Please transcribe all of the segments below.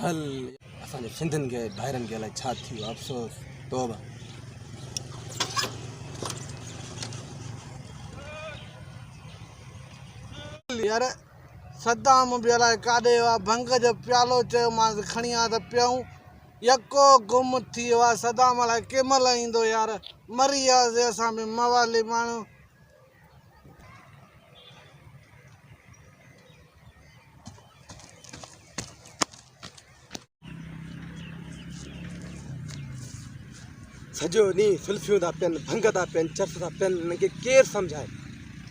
هل اسان جي سنڌين کي ڀائرن کي الائي ڇا ٿي ويو افسوس توبه. هل يار صدام به الائي ڪاڏي ويو آ ڀنگ جو پيالو چيو مانس کڻي آ ته پيئون يڪو گم ٿي ويو آ صدام الائي ڪنهن مهل ايندو يار مري وياسي اسان به موالي ماڻهو. سڄو ڏينهن سلفيون ٿا پين ڀنگ ٿا پين چرس ٿا پين هن کي ڪير سمجھائي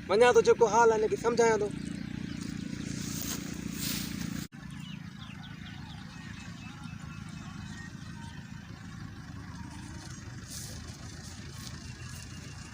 وڃان ٿو جيڪو حال آهي هن کي سمجھايان ٿو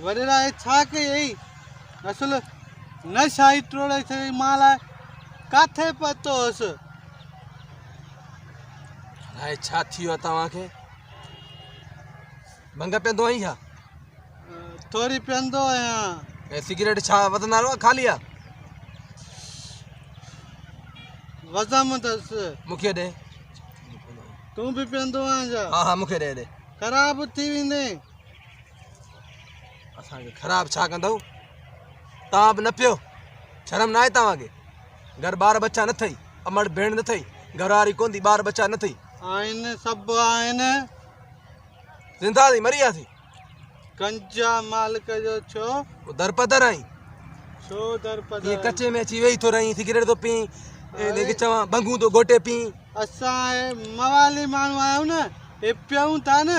وريرائي ڇا ڪئي اٿئي؟ اصل نه شاهي ٽوڙي ڇڏي مان لاء ڪاٿي پهتو هوس؟ الاء ڇا ٿي ويو آهي توهان کي؟ ڀنگ پيئندو آهين ڇا؟ ٿوري پيئندو آهيان. ۽ سگريٽ ڇا وڌندا رهو خالي آ وزم دس مونکي ڏي تون به پيندو آهين ها ها مونکي ڏي ڏي خراب ٿي ويندين اسان کي خراب ڇا ڪندؤ توهان به نه پيو شرم ناهي توهان کي گهر ٻار ٻچا نه اٿئي امڙ ڀيڻ نه اٿئي گهر واري ڪون ٿي ٻار ٻچا نه اٿئي آهن سڀ آهن زنده ٿي مري وياسي گنجا مالڪ جو ڇو او در پدر آهين ڇو در ڪي پدر ڪچي ۾ اچي ويهي ٿو رهين سگريٽ ٿو پين ان کي چوان ڀنگون ٿو گهوٽي پين اسان اهي موالي ماڻهو آهيون نه هي پيئون ٿا نه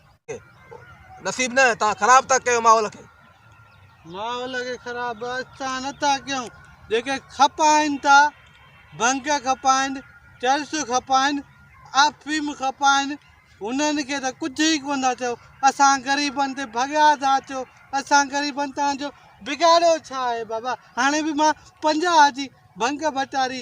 نصيب نه توهان خراب ٿا ڪيو ماحول کي. ماحول کي خراب اسان نه ٿا ڪيون جيڪي کپائن ٿا ڀنگ کپائن چرس کپائن افيم کپائن انهن کي ته ڪجهه ئي ڪونه ٿا چئو اسان غريبن تي ڀڳا ٿا اچو اسان غريبن تهان جو بگاڙيو ڇا آهي بابا هاڻي به مان پنجاهه جي ڀنگ ڀٽاري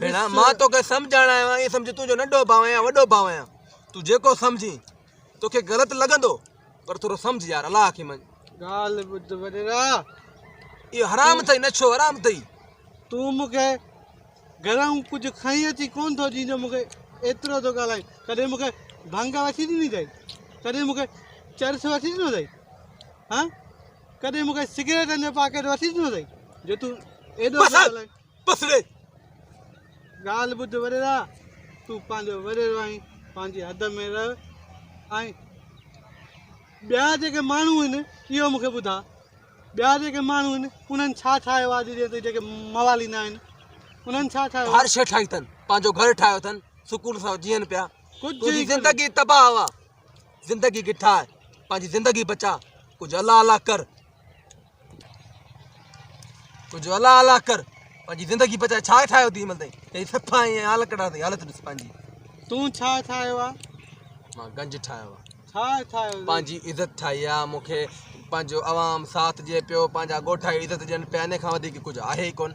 ڀيڻ! مان توکي سمجهائڻ آيو آهيان، ائين سمجهه تون جو ننڍو ڀاء آهيان يا وڏو ڀاء آهيان. تون جيڪو سمجهين، توکي غلط لڳندو، پر ٿورو سمجهه يار، الله کي مڃ. ڳالهه ٻڌ وڏيرا! اهو حرام اٿئي، نشو حرام اٿئي. تون مون کي گهرئون ڪجهه کڻي اچي ڪونه ٿو ڏين جو مون کي ايترو ٿو ڳالهائين. ڪڏهن مون کي ڀنگ وٺي ڏني اٿئي؟ ڪڏهن مون کي چرس وٺي ڏنو اٿئي؟ هان! ڪڏهن مون کي سگريٽن جو پاڪيٽ وٺي ڏنو اٿئي جو تون ايڏو ٿو ڳالهائين؟ بس ڙي ڳالهه ٻڌ وڏيرا، تون پنهنجو وڏيرو آهين، پنهنجي حد ۾ رهه ۽ ٻيا جيڪي ماڻهو آهن اهو مون کي ٻڌاء، ٻيا جيڪي ماڻهو آهن انهن ڇا ٺاهيو آهي اڄ جي جيڪي مواليندا آهن انهن ڇا ٺاهيو هر شيء ٺاهي اٿن پنهنجو گهر ٺاهيو اٿن سڪون سان جيئن پيا ڪجهه تنهنجي زندگي تباهه هوا زندگي کي ٺاهه پنهنجي زندگي بچاء ڪجهه الله الله ڪر ڪجهه الا الا ڪر پنهنجي زندگي بچاء ڇا ٺاهيو اٿئي مل تائين هي صفا ۽ حال ڪڍا اٿئي حالت ڏس پنهنجي تون ڇا ٺاهيو آ مان گنج ٺاهيو آ ڇا ٺاهيو پنهنجي عزت ٺاهي آ مونکي پنهنجو عوام ساٿ ڏي پيو پنهنجا ڳوٺ عزت ڏين پيا ان کان وڌيڪ ڪجهه آهي ئي ڪونه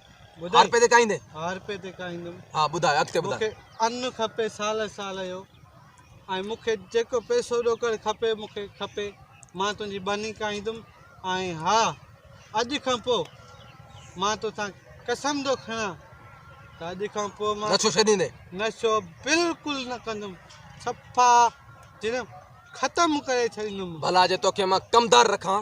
هارپي تي کائيندين. هارپي تي کائيندم. ها ٻڌاء اڳتي ٻڌاء. مون کي ان کپي سال سال جو ۽ مون کي جيڪو پيسو ڏوڪڙ کپي مون کي کپي مان تنهنجي ٻني کائيندم ۽ ها اڄ کان پوء مان توسان قسم ٿو کڻان ته اڄ کان پوء مان نشو ڇڏيندين. نشو بلڪل نه ڪندم صفا جن ختم ڪري ڇڏيندم. ڀلا جي توکي مان ڪمدار رکان.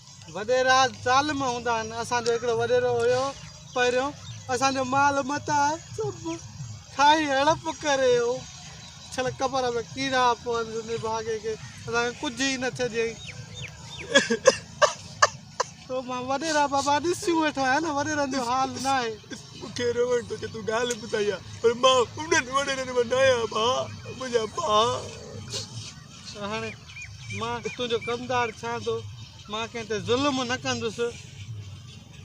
وڏيرا ظالم هوندا آهن اسان جو هڪڙو وڏيرو هيو پهريون اسان جو مال متاع سڀ کائي هڙپ ڪري هو ڇڙ قبر ۾ ڪيڙا پون سندي ڀاڳي کي اسان کي ڪجهه ئي نه ڇڏيائين تو مان وڏيرا بابا ڏسيون ويٺو آهيان نه وڏيرن جو حال نه آهي مون کي روئڻ ٿو اچي تون ڳالهه ٻڌائي ها پر مان انهن وڏيرن مان نه آهيان ڀاء منهنجا ڀاء ته هاڻي مان تنهنجو ڪمدار ڇان ٿو، مان ڪنهن تي ظلم نه ڪندس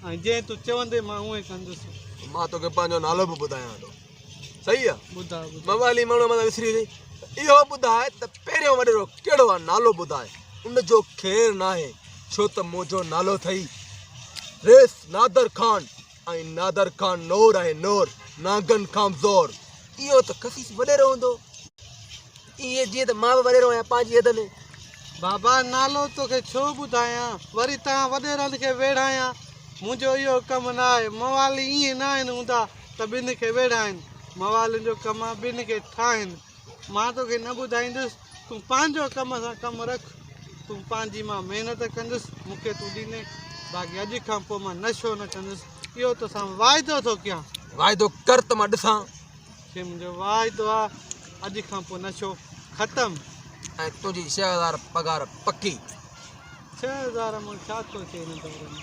۽ جئين تون چوندين مان اونهي ڪندس. مان توکي پنهنجو نالو به ٻڌايان ٿو. صحيح آ؟ ٻڌاء ٻڌاء. موالي ماڻهو مٿان وسري ويئي. اهو ٻڌاء ته پهريون وڏيرو ڪهڙو آ؟ نالو ٻڌاء. ان جو خير ناهي، ڇو ته منهنجو نالو اٿئي، ريس نادر خان. ۽ نادر کان نور آهي نور، نانگن کان به زور. اهو ته خسيس وڏيرو هوندو. ائين جيئن ته مان به وڏيرو آهيان پنهنجي حد ۾. بابا نالو توکي ڇو ٻڌايان، وري توهان وڏيرن کي ويڙهايان. منهنجو اهو ڪم نه آهي. موالي ائين ناهن هوندا ته ٻن کي ويڙهائين. موالين جو ڪم آهي ٻن کي ٺاهين. مان توکي نه ٻڌائيندس، تون پنهنجو ڪم سان ڪم رک، تون پنهنجي مان محنت ڪندس، مون کي تون ڏيندين، باقي اڄ کان پوء مان نشو نه ڪندس، اهو توسان واعدو ٿو ڪيان. واعدو ڪر ته مان ڏسان. کي منهنجو واعدو آ، اڄ کان پوء نشو ختم. ۽ تنهنجي ڇهه هزار پگهار پڪي. ڇهه هزار مان ڇا ٿو اچي هن دور ۾.